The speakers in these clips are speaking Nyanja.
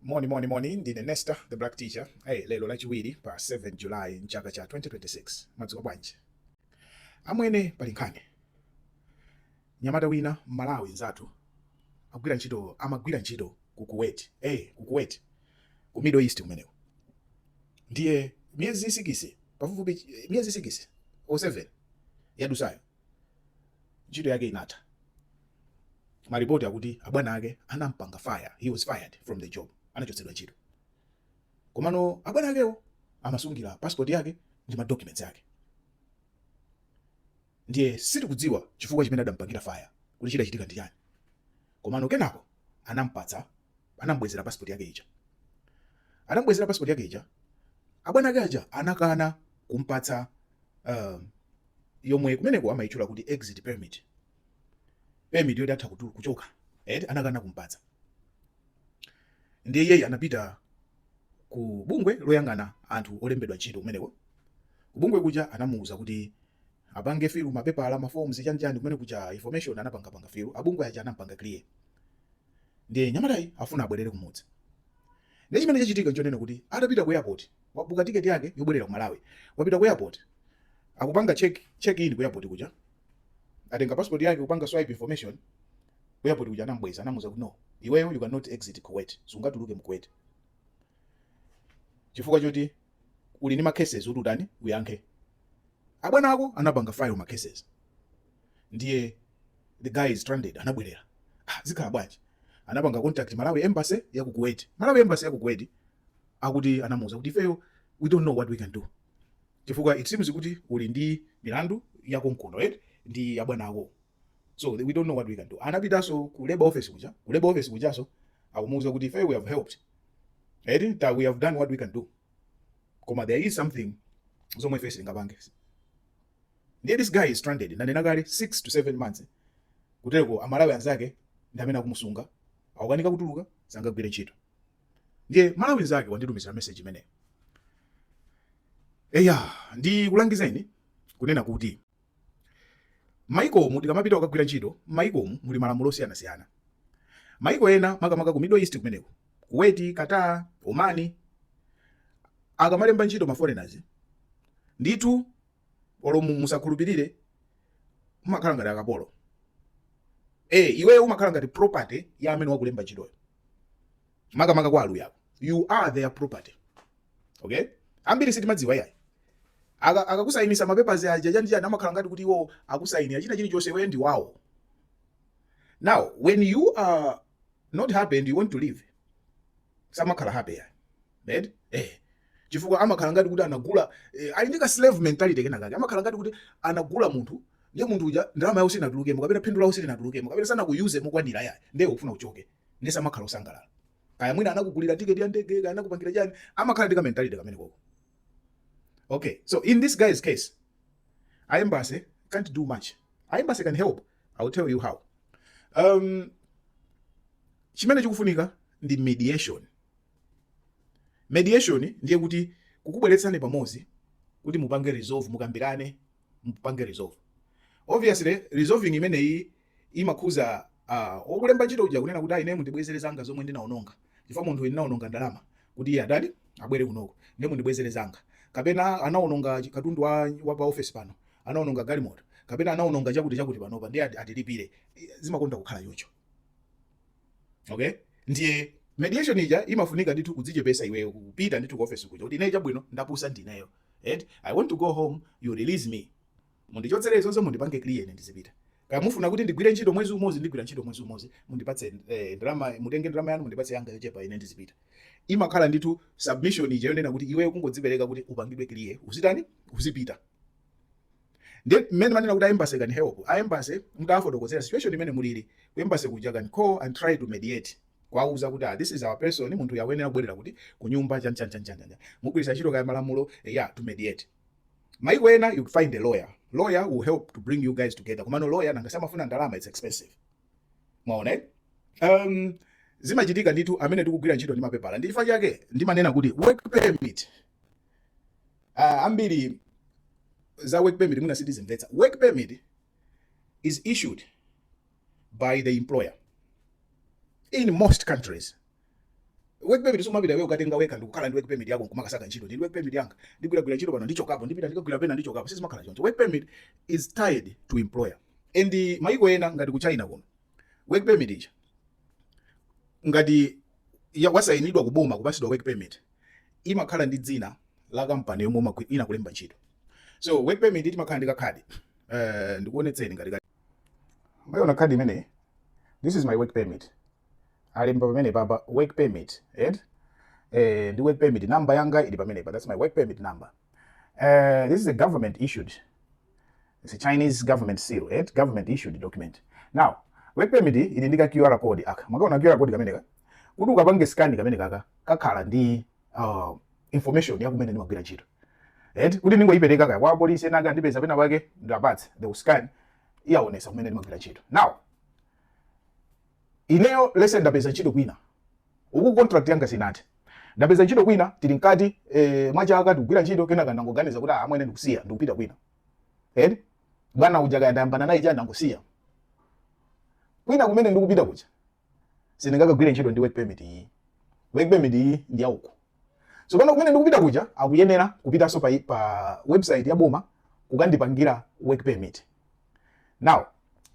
Moni moni moni ndine Nesta the black teacher. Hey, lero lachiwiri pa 7 July mchaka cha 2026. Mwadzuka bwanji? Amwene pali nkhani. Nyamata wina Mmalawi nzathu agwira ntchito amagwira ntchito ku Kuwait. Hey, ku Kuwait. Ku Middle East kumeneko. Ndiye miezi 6 pafupifupi miezi 6 o 7 yadutsayo ntchito yake inatha. maripoti akuti abwana ake anampanga fire he was fired from the job anachotsedwa ntchito komano abwana akewo amamusungira passport yake ndi ma documents ake ndiye sitikudziwa chifukwa chimene adampangira fire kuti chidachitika ndi chani komano kenako anampatsa anambwezera passport yake ija anambwezera passport yake ija abwana ake aja anakana kumpatsa um, yomwe kumeneko amaitchula kuti exit permit permit yoti atha kutu- kuchoka eti anakana kumpatsa ndiye iyeyu anapita ku bungwe loyang'ana anthu olembedwa ntchito kumeneko kubungwe kuja anamuwuza kuti apange filu mapepala maforms chanichani kumene kuja information anapangapanga filu abungwe aja anampanga clear ndiye nyamatayu afuna abwerere kumudzi ndiye chimene chachitika nchonena kuti atapita ku airport wabuka tiketi yake yobwerera ku malawi wapita ku airport akupanga check check in ku airport kuja atenga passport yake kupanga swipe information ku airport kuja anambweza anamuuza kuti no iweyo you cannot exit Kuwait sungatuluke mu Kuwait chifukwa choti uli ni ma cases kuti utani uyankhe abwana ako anapanga file ma cases ndiye the guy is stranded anabwerera ah, zikhala bwanji anapanga contact Malawi embassy ya ku Kuwait Malawi embassy ya ku Kuwait akuti anamuuza kuti ifeyo we don't know what we can do chifukwa it seems kuti uli ndi milandu yakonkuno right ndi abwana ako so we don't know what we can do anapitaso ku labor office kuja ku labor office kujaso akumuuza kuti ife we have helped right that we have done what we can do koma there is something zomwe ife sitingapange ndiye this guy is stranded nanena kale 6 to 7 months kutereko amalawi anzake ndi amene akumusunga akukanika kutuluka sangagwire ntchito ndiye mmalawi nzake wanditumizira message imeneyo eya ndikulangizeni kunena kuti maikomu tikamapita kukagwira ntchito maikomu muli malamulo osiyanasiyana maiko ena makamaka ku middle east kumeneko Kuwait qatar Oman akamalemba ntchito ma foreigners ndithu olo mu- musakhulupirire mumakhala ngati akapolo eh iweyo umakhala ngati property ya amene wakulemba ntchitoyo makamaka kwa aluya you are their property okay ambiri sitimadziwa yayi Aka- akakusayinisa mapepers aja chani chani amakhala ngati kuti iwo akusayinira china chilichonse iwe ndi wawo now when you are not happy and you want to leave samakhala happy yayi right eh chifukwa amakhala ngati kuti anagula eh, ali ndi ka slave mentality kena kake amakhala ngati kuti anagula munthu ndiye munthu uja ndalama yawo sinatulukemo kapena phindu lawo silinatulukemo kapena sanakuyuze mokwanira yayi ndiye ukufuna uchoke ndiye samakhala osangalala kaya mwina anakugulira tiketi ya ndege kaya anakupangira chani amakhala ndi ka mentality kamene koko okay so in this guy's case our embassy can't do much our embassy can help i will tell you how um chimene chikufunika ndi mediation Mediation ndiye kuti kukubweretsani pamodzi kuti mupange resolve, mukambirane mupange resolve. Obviously resolving imeneyi imakhuza uh, ah, okulemba ntchito uja kunena kuti ine mundibwezere zanga zomwe ndinaononga chifukwa munthu ndinaononga ndalama kuti iye atani abwere kunoko ndiye mundibwezere zanga kapena anaononga katundu wa, wa pa office pano anaononga galimoto kapena anaononga chakuti chakuti panopa ndiye atilipire zimakonda kukhala choncho Okay? Ndiye mediation ija imafunika ndithu kudzichepesa iweyo kupita ndithu ku office kuja kuti ineyo chabwino ndapusa ndineyo. Right? I want to go home, you release me. Mundichotsere zonse mundipange clear ine ndizipita. Kaya mufuna kuti ndigwire ntchito mwezi umodzi ndigwira ntchito mwezi umodzi mundipatse eh, ndalama mutenge ndalama yanu mundipatse yanga yochepa ine ndizipita. Imakhala ndithu submission ija yonena kuti iweyo kungodzipereka kuti upangidwe clear. Uzitani? Uzipita. Ndiye mmene manena kuti our embassy can help, a embassy mutawafotokozera situation imene mulili, ku embassy kuja can call and try to mediate kuwauza kuti ah this is our person, munthu uyu akuyenera kubwerera kuti kunyumba chan chan chan chan, mugwiritsa ntchito kaya malamulo eya to mediate. Maiko ena you find a lawyer, lawyer will help to bring you guys together, komano lawyer nanga samafuna ndalama, it's expensive. Mwaona eh? Um, zimachitika ndithu amene tikugwira ntchito ndi mapepala ndi chifukwa chake ndimanena kuti work permit uh, ambiri za work permit mwina sitizimvetsa work permit is issued by the employer in most countries work permit sumapita iweyo kukatenga wekha ndikukhala ndi work permit yako nkumakasaka ntchito ndi work permit yanga ndigwiragwira ntchito pano ndichokapo ndipita ndikagwira pena ndichokapo sizimakhala choncho work permit is tied to employer and uh, mayiko ena ngati ku china kuno work permit ija ngati wasayinidwa kuboma kupasidwa work permit imakhala ndi dzina la kampani yomwe inakulemba ntchito so work permit imakhala ndi kakhadi uh, ndikuonetseni ngati mwayiona khadi imeneyi this is my work permit alemba pamenepapa work permit right? eh, ndi work permit number yanga ili pamenepa that's my work permit number uh, this is a government issued It's a Chinese government seal, eh? government issued document. Now, work permit ili ndi ka QR code aka. Makaona QR code kameneka. Kuti ukapange scan kamenekaka kakhala ndi uh, information ya kumene ndimagwira ntchito. And kuti ndingoyipereka kaya kwa polisi ena angandipeza pena pake ndawapatsa the scan iyaonesa kumene ndimagwira ntchito. Now, Ineyo let's say ndapeza ntchito kwina uku contract yanga sinathe. Ndapeza ntchito kwina tili mkati eh, mwa chaka tikugwira ntchito kenaka ndangoganiza kuti ah, amwene ndikusiya, ndikupita kwina. Eti bwana uja kaya ndayambana naye chani ndangosiya. Kwina kumene ndikupita kuja sindingakagwire ntchito ndi work permit iyi. Work permit iyi ndi ya uku. tsopano kumene ndikupita kuja akuyenera kupitanso pa, pa website ya boma kukandipangira work permit now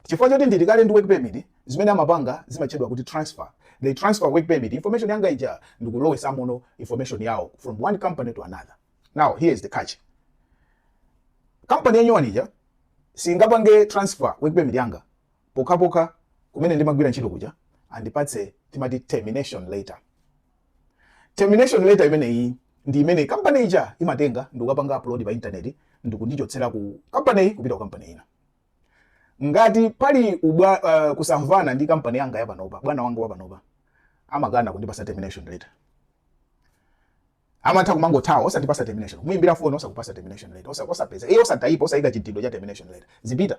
chifukwa choti ndili kale ndi work permit zimene amapanga zimatchedwa kuti transfer they transfer work permit information yanga ija ndikulowesamono information yawo from one company to another now here is the catch company yanyowani ija singapange transfer work permit yanga pokhapokha kumene ndimagwira ntchito kuja andipatse timati termination letter termination letter imeneyi ndi imene kampani ija imatenga ndikukapanga upload pa intaneti ndikundichotsera ku kampaniyi kupita ku kampani ina ngati pali ubwa, uh, kusamvana ndi kampani yanga yapanopa bwana wanga wapanopa amakana kundipasa termination letter amatha kumangothawa osandipasa termination kumuimbira foni osakupasa termination letter osapeza iye osataipa osayika chidindo cha termination letter uzipita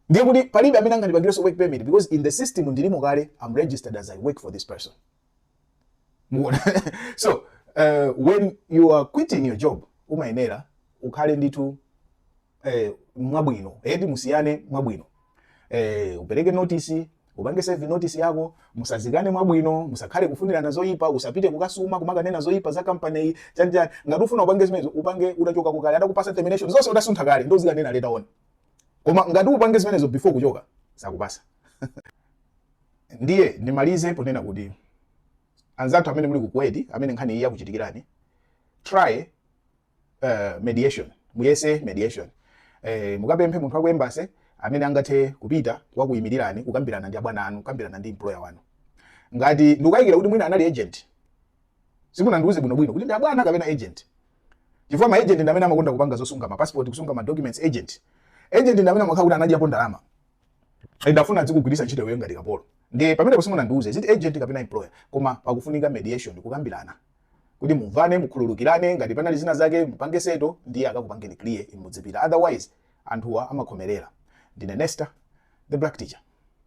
ndiye kuti palibe amene angandipangirenso work permit because in the system ndilimo kale I'm registered as i work for this person mwaona so uh, when you are quitting your job umayenera ukhale ndithu eh, mwabwino eti musiyane mwabwino eh, upereke notice Upange serve notice yako, musazikane mwabwino, musakhale kufunirana zoyipa, usapite kukasuma kumakanena zoyipa za company yi, chani chani. Ngati ufuna upange zimenezo, upange utachokako kale, atakupasa termination, zonse utasuntha kale, ndiye uzikanena later on. Koma ngati upange zimenezo before kuchoka, sakupasa. Ndiye, ndimalize ponena kuti, anzathu amene muli ku Kuwait, amene nkhani iyi yakuchitikirani, try uh, mediation muyese mediation eh, mukapemphe munthu waku embassy amene angathe kupita kukakuyimirani kukambirana ndi abwana anu kukambirana ndi employer wanu ngati ndikukayikira kuti mwina anali agent simunandiuze bwinobwino kuti ndi abwana kapena agent chifukwa maagent ndi amene amakonda kupanga zosunga mapassport kusunga madocuments agent agent ndi amene amakhala kuti anadyapo ndalama nde afuna adzikugwiritsa ntchito iweyo ngati kapolo ndi pamenepo simunandiuze ziti agent kapena employer koma pakufunika mediation kukambirana kuti mumvane mukhululukirane ngati panali zina zake mupange settle ndiye akakupangeni clear inu mudzipita otherwise anthuwa amakhomerera ndine nesta the black teacher